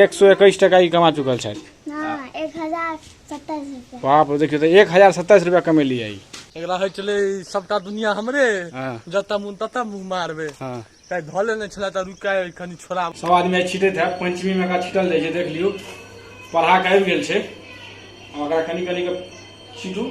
एक सौ इक्कीस टका ई कमा चुकल छथि हाँ एक हजार सत्ताईस रुपया बाप रे देखियौ तऽ एक हजार सत्ताइस रुपया कमेली आई एकरा होइ छलै सबटा दुनिया हमरे हाँ। जतऽ मुन ततऽ मुँह मारबे हाँ ताहि धऽ लेने छलै तऽ रुका कनि छोड़ा सब आदमी आइ छिटैत है पंचमी में एकरा छिटल जाइ छै देख लियौ पढ़ा के आबि गेल छै आ ओकरा कनि कनि के छिटू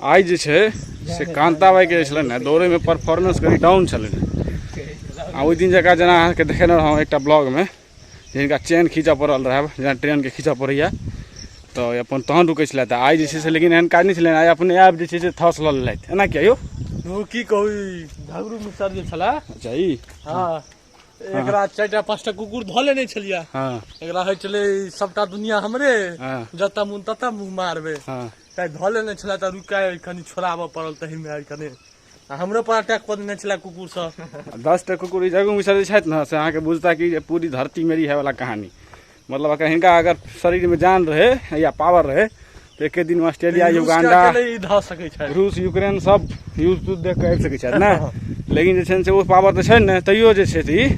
आइ जे छै से कान्ताबाइके जे छलनि हेँ दौड़ैमे परफॉर्मेंस कनि डाउन छलनि हेँ आ ओहि दिन जकाँ जेना अहाँके देखेने रहौँ एकटा ब्लॉगमे जिनका चेन खींचऽ पड़ल रहए जेना ट्रेनके खींचऽ पड़ैए तऽ अपन तहन रुकै छलए तऽ आइ जे छै से लेकिन एहन काज नहि छलै आइ अपने आप जे छै से थस लऽ लेलथि एना किया यौ की कहू झगड़ू मिसर जे छलए अच्छा ई हँ एकरा चारि टा पाँच टा कुकुर धऽ लेने छलियै हँ एकरा होइ छलै सभटा दुनिया हमरे हँ। जतऽ मुन ततऽ मुँह मारबै हँ ताहि धऽ लेने छलै तऽ रुका कनि छोड़ाबऽ पड़ल तहिमे आइ कनि आ हमरो पर अटैक कऽ देने छलै कुकुर सब दस टा कुकुर ई जगह मुसर जे छथि ने से अहाँके बुझता कि जे पूरी धरती मेरी है वाला कहानी मतलब अगर हिनका अगर शरीर में जान रहे या पावर रहे तो एक दिन ऑस्ट्रेलिया युगांडा रूस यूक्रेन सब यूज तूज देख कर सके सकै ना लेकिन जे से वो पावर तो है ना तैयो जे छै से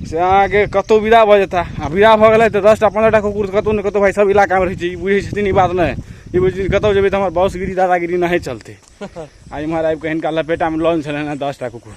से अहाँके कतहु विदा भऽ जेता आ विदा भऽ गेलै तऽ दसटा पन्द्रहटा कुकुर कतहु ने कतहु भाइ सब इलाकामे रहै छै बुझै छथिन ई बात नहि ई बुझै छथिन कतहु जेबै तऽ हमर बॉसगिरी दादागिरी नहि चलतै आ इम्हर आबि कऽ हिनका लपेटामे लॉन्च छलनि हँ दसटा कुकुर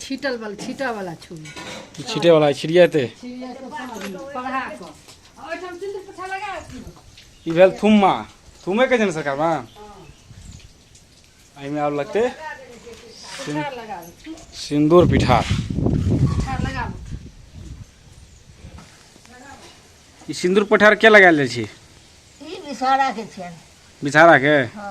छीटल वाला छीटा वाला छू छीटे वाला छिड़िया ते पढ़ा कऽ ओहिठाम सिंदूर पोछा लगा ई भेल थुम्मा थुम्मे के जन सरकार में एहिमे आब लगते पिठार लगा दे सिंदूर पिठार पिठार लगा दे ई सिंदूर पिठार के लगायल जाइ छै ई विषहारा के छियनि विषहारा के हँ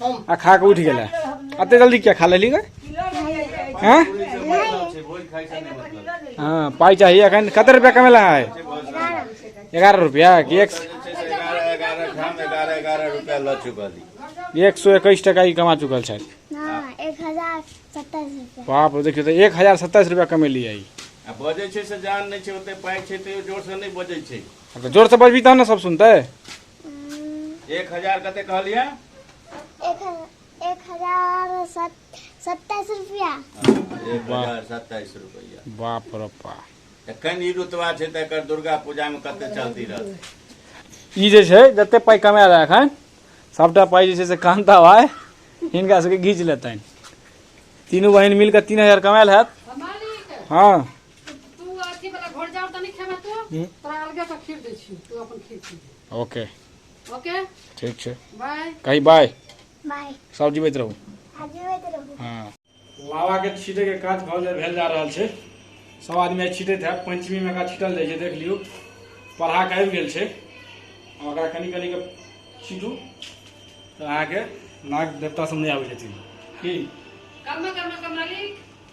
आ खा के उठ गेला अते जल्दी क्या खा लेली गए हैं हाँ पाई चाहिए अखन कते रुपया कमेला है ग्यारह रुपया कि एक एक सौ इक्कीस टका ही कमा चुकल है बाप रे देखियो तो एक हजार सत्ताईस रुपया कमेली आई आ बजै छै से जान नहि छै ओते पाइ छै तैयो जोरसँ नहि बजै छै तो जोर से बजबी तब ना सब सुनते एक हजार कते कहलियै एक एक हजार सत- सत्ताइस रुपया एक हजार सत्ताइस रुपैआ बाप रे बाप एखन ई रुतबा छै तऽ एकर दुर्गा पूजामे कते चलती रहतै ई जे छै जते पाइ कमाए रहा एखन सभटा पाइ जे छै से कान्ता भाय हिनका सबके घीच लेतनि तीनू बहिन मिलके तीन हजार कमायल हैत हँ तू अथी वाला घर जाओ तो नहीं खेबे तू हम्म। तोरा अलगे से खीर दे छी तू अपन खीर पी ले। ओके ओके ठीक छै बाय कही बाय बाय सब जीवित रहू आज जीवित रहू हँ लावा के छीटे के काज भऽ जा- भेल जा रहल छै सब आदमी आइ छीटैत है पंचमी में एकरा छीटल जाइ छै देख लियौ पढ़ा के आबि गेल छै आ ओकरा कनि कनि के छीटू तऽ अहाँके नाग देवता सब नहि आबै छथिन की कर्म कर्म कमाली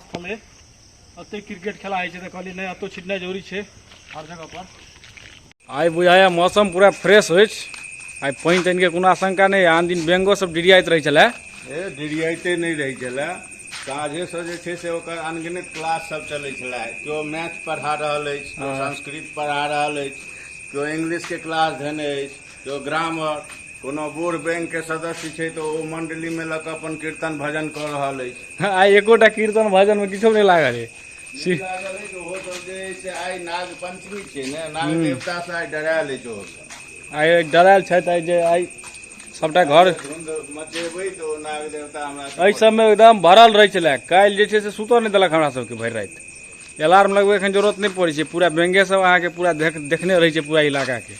देखलियै एतै क्रिकेट खेला होइ छै तऽ कहलियै नहि एतौ छिटनाइ जरूरी छै हर जगह पर आइ बुझाइए मौसम पूरा फ्रेश होइ छै आइ पानि तानिके कोनो आशंका नहि आन दिन बेंगो सब डिरियाइत रहै छलै ए डिरियाइते नहि रहै छलै साँझेसँ जे छै से ओकर अनगिनत क्लास सब चलै छलै केओ मैथ पढ़ा रहल अछि केओ हाँ। संस्कृत पढ़ा रहल अछि केओ इंग्लिशके क्लास धेने अछि जो ग्रामक कोनो बूढ़ बैंक के सदस्य छै तऽ ओ मंडली में लऽ कऽ अपन कीर्तन भजन कऽ रहल अछि आ एकोटा कीर्तन भजन में किछो नहि लागल है ई लागल अछि जे ओहो सब जे अछि से आइ नाग पंचमी छै ने नाग देवता से आइ डरायल अछि ओहो सब आइ डरायल छथि आइ जे आइ सबटा घर धुंध मचेबै तऽ ओ नाग देवता हमरा एहि सब सबमे एकदम भरल रहै छलै काल्हि जे छै से सुतऽ नहि देलक हमरा सबके भरि राति अलार्म लगबै एखन जरूरत नहि पड़ै छै पूरा बेंगे सब अहाँके पूरा देख देखने रहै छै पूरा इलाकाके